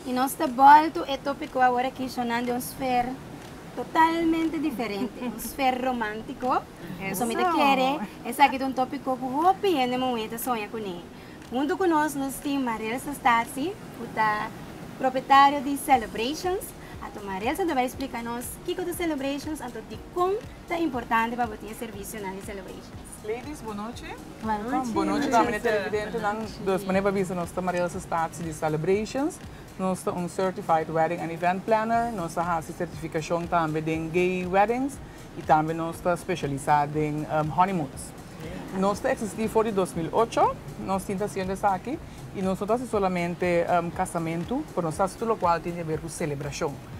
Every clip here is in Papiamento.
I nos ta bolto e tópiko awor aki shonando un sfer totalmente diferente, un sfer romántiko. Pasobra mi ta kere esaki ta un tópiko ku hopi hende muhé ta soña kuné. Huntu ku nos nos tin Marel Sestasi, ku ta propietario di Celebrations. Anto Marel ta bai splika nos kiko ta Celebrations, anto dikon ta importante pa bo tin e servisionan di Celebrations. Ladies bonochi. Bonochi. Bonochi ta mane ta residente nan dos mane pa bisa nos ta Maria Elsa Spaatz di Celebrations nos ta un certified wedding and event planner nos ta hasi certificacion tambe den gay weddings y tambe nos ta specialisa den honeymoons nos ta existi for di dos mil ocho nos tin ta haciendo esaki y nos no ta haci solamente casamentu pero nos ta haci tur locual tin di haber cu celebracion.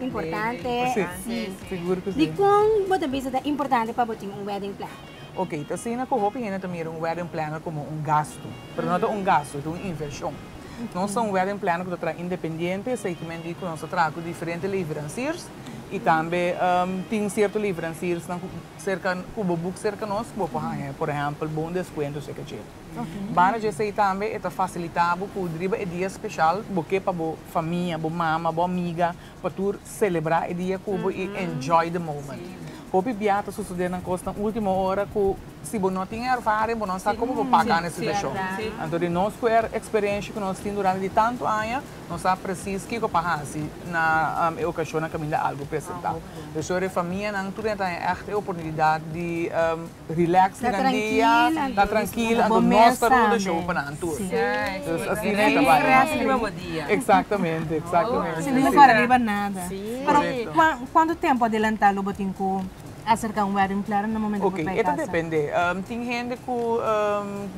Importante, sí. Sigur cu sí. Dicon bo ta bisa ta importante pa bo tin un wedding planner? Ok, ta asina cu hopi hende ta mira un wedding planner como un gastu. Pero no ta un gastu, es un inversion. Nos ta un wedding planner cu ta traha independiente, esey cu mi a dici cu nos ta traha cu diferente leveranciers y tambe tin cierto leveranciersnan cu cerca, cu bo boek cerca nos cu bo por haya, por ehempel, bon descuento si e cachito. Banda dje esey tambe e ta facilita bo cu riba e dia special bo ke pa bo famia, bo mama, bo amiga, pa tur celebra e dia cu bo y enjoy the moment. Hopi bia ta sucede nan cos na ultimo ora cu si bo no tin e ervaring bo no sa como bo paca nan e situacion. Anto di nos cu e experiencia cu nos tin durante di tanto aña nos sa precies kico pa haci na e ocacionnan caminda algo presenta. P'esor e famianan tur a traha echt e oportunidad di. Relax duran e dia, ta trankil anto nos ta run e show pa nan tur. Dus asina e ta bai. Relax riba bo dia. Eksaktamente, eksaktamente. Sin mucha kore riba nada. Pero kuantu tempu adelantá lo bo tin ku aserká un wedding planner na momentu ku bo bai kasa? Oke, e ta depende. Tin hende ku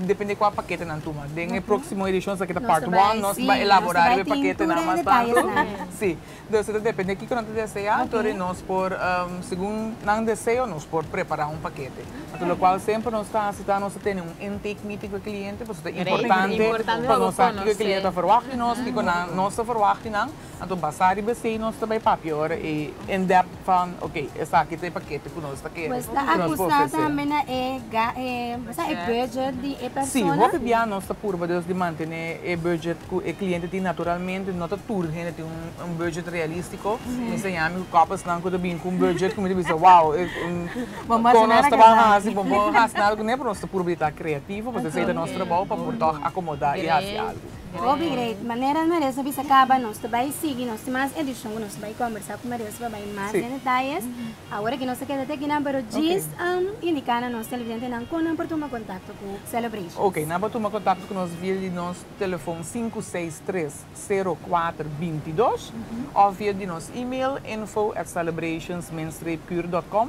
depende kua pakete nan tuma. Den e próksimo edishon sa ke ta part one nos ta bai elaborá riba e paketenan mas tantu. Si. Entonces ta depende kiko nan ta desea, anto di nos por segun nan deseo nos por prepara un pakete. Anto lokual semper nos ta hasi ta nos ta tene un intake meeting ku e kliente pasobra ta importante pa nos sa kiko e kliente ta ferwagt di nos, kiko nos ta ferwagt di nan, anto basá riba esei nos ta bai papia ora e in-depth. Van, ok, esaki ta e pakete ku nos ta kere. Pues ta akusá tambe na e e budget di e persona? Si, hopi bia nos ta purba dus di mantené e budget ku e kliente tin. Naturalmente no ta tur hende tin un budget realístiko. Mi sa yami ku kòpasnan ku ta bini ku un budget ku mi ta bisa, wow, kon nos ta ban hasi, bo bon hasi nada ku ne, pero nos ta purba di ta kreativo, pasobra esei ta nos trabou pa por tòg akomodá i hasi algu. Hopi great manera Maria sa bisa caba nos ta bay sigui nos tin mas edicion cu nos ta bay conversa cu Maria sa pa bay mas den detalles awor aki nos ta keda te akinan pero djis indica na nos televidentenan con nan por tuma contacto cu Celebration. Ok nan por tuma contacto cu nos via di nos telefon sinku seis tres sero kuater binti dos of via di nos email info@celebrationsminstreetkuur.com.